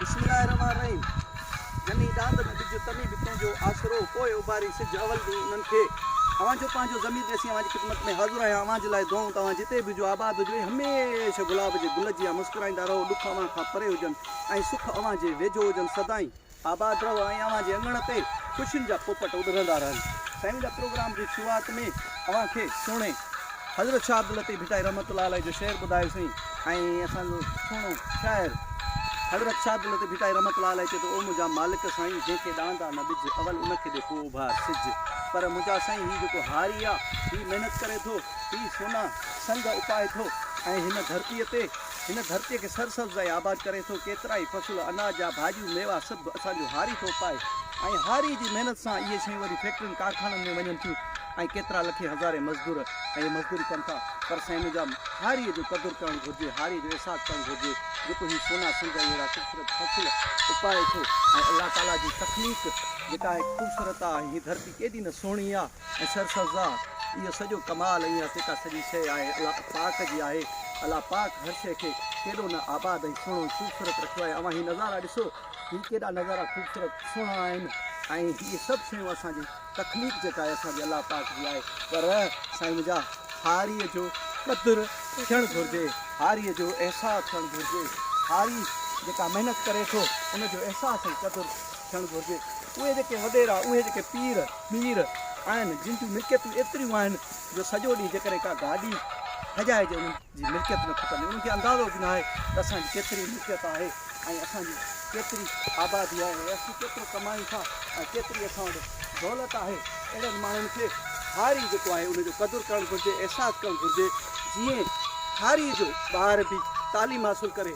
بسم الله الرحمٰن الرحيم جني ڏاند ۾ ڏج تني به تنهنجو آسرو پوء اڀاري سج اول ڏينهن انهن کي اوهان جو پنهنجو ضمير ڏسي اوهان جي خدمت ۾ حاضر آهيان اوهان جي لاء دعائون توهان جتي به هجو آباد هجو ۽ هميشه گلاب جي گل جيان مسڪرائيندا رهو ڏک اوهان کان پري هجن ۽ سک اوهان جي ويجهو هجن سدائين آباد رهو ۽ اوهان جي اڱڻ تي خوشين جا پوپٽ اڏرندا رهن. سائين جا پروگرام جي شروعات ۾ اوهان کي سهڻي حضرت شاهه عبداللطيف ڀٽائي رحمة الله عليه جو شعر ٻڌايو سين ۽ اسان جو سهڻو شاعر حضرت شاهه عبداللطيف ڀٽائي رحمة الله عليه چئي ٿو او منهنجا مالڪ سائين جنهن کي ڏاندا نه ٻج اول ان کي ڏي پوء اڀار سج پر منهنجا سائين هي جيڪو هاري آ هي محنت ڪري ٿو هي سونا سنگ اپائي ٿو ۽ هن ڌرتي تي هن ڌرتيء کي سرسبز ۽ آباد ڪري ٿو. ڪيترائي فصل، اناج جا ڀاڄيون، ميوا سڀ اسان جو هاري ٿو پائي ۽ هاريء جي محنت سان اهي شيون وري فيڪٽرين ڪارخانن ۾ وڃن ٿيون ۽ ڪيترا لکين هزارين مزدور اهي مزدوري ڪن ٿا پر سائين منهنجا هاريء جو قدر ڪرڻ گهرجي هاريء جو احساس ڪرڻ گهرجي جيڪو هي سونا سنگ ۽ اهڙا خوبصورت فصل اپائي ٿو ۽ الله تعاليٰ جي تخليق جيڪا آهي خوبصورت آهي ۽ هي ڌرتي ڪيڏي نه سهڻي آهي. ۽ سرسبزآ، اهو سڄو ڪمال ۽ اها سيڪا سڄي شيء آهي الله پاڪ جي آهي، الله پاڪ هر شيء کي ڪيڏو نه آباد ۽ سهڻو ۽ خوبصورت رکيو آهي اوهان هي نظارا ڏسو هي ڪيڏا نظارا خوبصورت سهڻا آهن ۽ هي سڀ شيون اسان جي تخليق جيڪا آهي اسان جي الله پاڪ جي آهي پر سائين منهنجا هاريء جو قدر ٿيڻ گهرجي هاريء جو احساس ٿيڻ گهرجي هاري جيڪا محنت ڪري ٿو ان جو احساس ۽ قدر ٿيڻ گهرجي. اهي جيڪي وڏيرا، اهي جيڪي پير، مير آهن، جن جون ملڪيتون ايتريون آهن جو سڄو ڏينهن جيڪڏهن ڪا گاڏي هجائجي انهن جي ملڪيت نه کپندي. انهن کي اندازو به ناهي ته اسان جي ڪيتري ملڪيت آهي ۽ اسان جي ڪيتري آبادي آهي ۽ اسين ڪيترو ڪمايون ٿا ۽ ڪيتري اسان وٽ دولت آهي. اهڙن ماڻهن کي هاري جيڪو آهي ان جو قدر ڪرڻ گهرجي، احساس ڪرڻ گهرجي. جيئن هاري جو ٻار به تعليم حاصل ڪري.